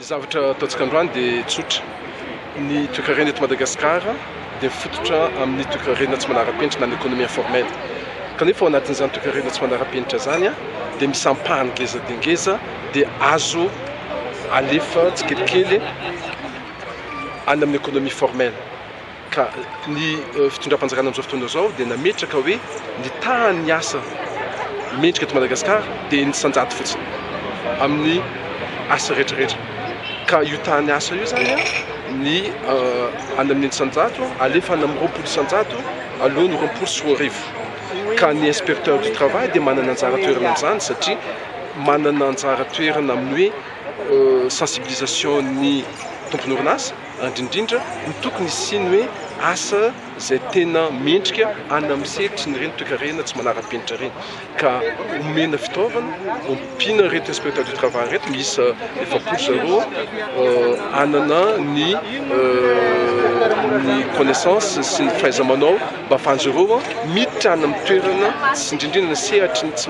Ny zavatra ataontsika androany dia tsotra. Ny toekarena eto Madagasikara dia mifototra amin'ny toekarena tsy manara-penitra na ny économie informelle. Kanefa ao anatin'izany toekarena tsy manara-penitra izany dia misy ampahany ngeza dia ngeza dia azo alefa tsikelikely any amin'ny économie formelle. Ka ny fitondram-panjakana amin'izao fotoana izao dia nametraka hoe ny tahan'ny asa mendrika eto Madagasikara dia ny sanjaty fotsiny amin'ny asa rehetra rehetra. Ka io tahan'ny asa io izany ny any amin'ny eninjato alefa any amin'ny roapolo isanjato aloha ny roapolo sy roa arivo. Ka ny inspecteur du travail dia manana anjara toerana amin'izany satria manana anjara toerana amin'ny hoe sensibilisation ny tompon'orinasa Indrindra no tokony hisiany hoe asa izay tena mendrika any amin'ny sehatry ireny toekarena tsy manara-penitra ireny ka omena fitaovana, ompiana ireto inspecteur du travail ireto miisa efapolo zareo hanana ny ny connaissance sy ny fahaiza-manao mba hahafahan'izy ireo miditra any amin'ny toerana sy indrindra indrindra ny sehatry ny tsy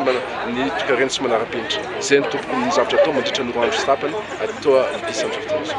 ny toekarena tsy manara-penitra. Izay no tokony ny zavatra atao mandritra ny roa andro sy tapany ato District Centre of Tourism.